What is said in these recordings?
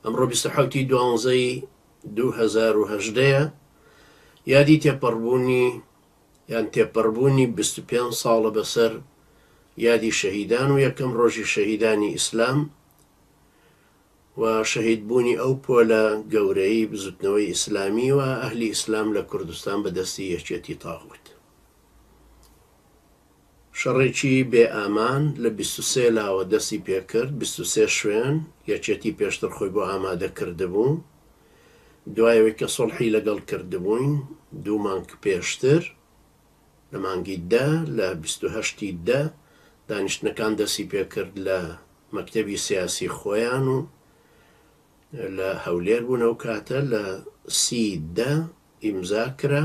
ئەمڕۆ بیست و حەوت ی دوانزە ی دوو هەزار و هەژدە یە یادی تێپەڕبوونی یان تێپەڕبوونی بیست و پێنج ساڵە بەسەر یادی شەهیدان و یەکەم ڕۆژی شەهیدانی ئیسلام و شەهید بوونی ئەو پۆلە گەورەی بزوتنەوەی ئیسلامی و ئەهلی ئیسلام لە کوردستان بە دەستی یەکێتی تاغوت. شەڕێکی بێ ئامان لە بیست و سێ لاوە دەستی پێکرد، بیست و سێ شوێن یەکێتی پێشتر خۆی بۆ ئامادە کردبوو، دوای ئەوەی کە سوڵحی لەگەڵ کردبووین دوو مانگ پێشتر لە مانگی دە لە بیست و هەشت ی دە دانیشتنەکان دەستی پێکرد لە مەکتەبی سیاسی خۆیان و لە هەولێر بوون ئەو کاتە لە سی دە ئیمزا کرا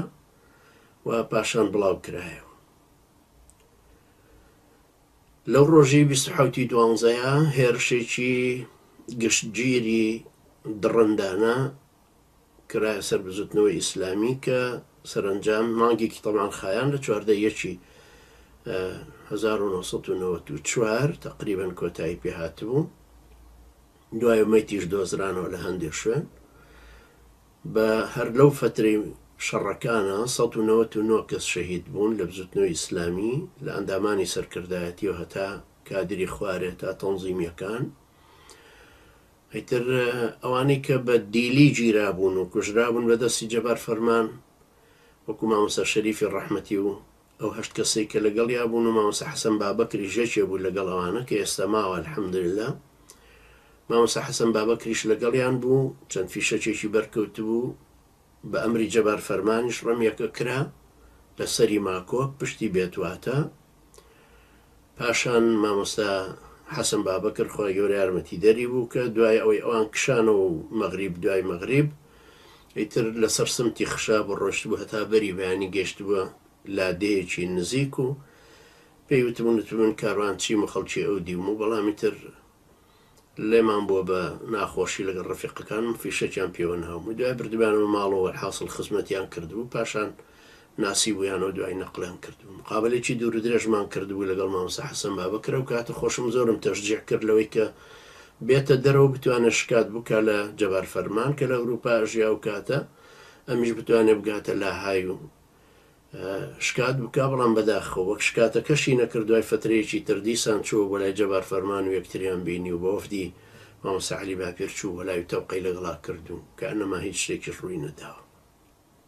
و پاشان بڵاو کرایەوە. لەو ڕۆژی بیست و حەوتی دوانزەیە هێرشێکی گشتگیری دڕندانە کرایە سەر بزوتنەوەی ئیسلامی کە سەرەنجام مانگێکی تەمان خایان لە چواردە یەکی 1994 تقریبن کۆتایی پێ هاتبوو دوای مەتیش دۆزرانەوە لە هەندێک شوێن بە هەر لەو فەترەی شەڕەکانە سەد و نەوەت و نۆ کەس شەهید بوون لە بزوتنەوەی ئیسلامی لە ئەندامانی سەرکردایەتیەوە هەتا کادری خوارێ تا تەنزیمیەکان ئیتر ئەوانەی کە بە دیلی گیرابوون و کوژرابوون بە دەستی جەبار فەرمان وەکو مامۆستا شەریفی ڕەحمەتی و ئەو هەشت کەسەی کە لەگەڵیا بوون و مامۆستا حەسەن بابەکریش یەکێ بوو لەگەڵ ئەوانە کە ئێستا ماوە الحمدللە مامۆستا حەسەن بابەکریش لەگەڵیان بوو چەند فیشەکێکی بەرکەوتبوو بە ئەمری جەبار فەرمانیش ڕمیەکە کرا لە سەری ماکۆک پشتی بێتواتە پاشان مامۆستا حەسەن بابەکر خوای گەورە یارمەتیدەری بوو کە دوای ئەوەی ئەوان کشانەوە و مەغریب دوای مەغریب ئیتر لەسەر سمتی خشابوو ڕۆشتبوو هەتا بەری بەیانی گەیشتبووە لادێیەکی نزیک و پێی وتبوون وتبوون کاروان چیم و خەڵکی ئەو دیوم و بەڵام ئیتر لێمان بووە بە ناخۆشی لەگەڵ ڕەفیقەکانم فیشەکیان پێوە ناوبوو، دوای بردمیانەوە ماڵەوە وەلحاسڵ خزمەتیان کردبوو پاشان ناسیبوویانەوە دوای نەقڵیان کردبوو، مقابەلەیەکی دوورودرێژمان کردبوو لەگەڵ مامۆستا حەسەن بابەکر، ئەو کاتە خۆشم زۆرم تەشجیع کرد لەوەی کە بێتە دەرەوە بتوانێت شکات بکات لە جەبار فەرمان کە لە ئەوروپا ئەژیا ئەو کاتە ئەمیش بتوانێت بگاتە لاهای و شکات بکا بەڵام بەداخەوە وەک شکاتەکەشی نەکرد دوای فەترەیەکی تر دیسان چووە بۆ لای جەبار فەرمان و یەکتریان بینی و بە وەفدی مامۆستا عەلی باپیر چوو بۆ لای و تەوقەی لەگەڵا کرد و کەئەنەما هیچ شتێکیش ڕووی نەداوە.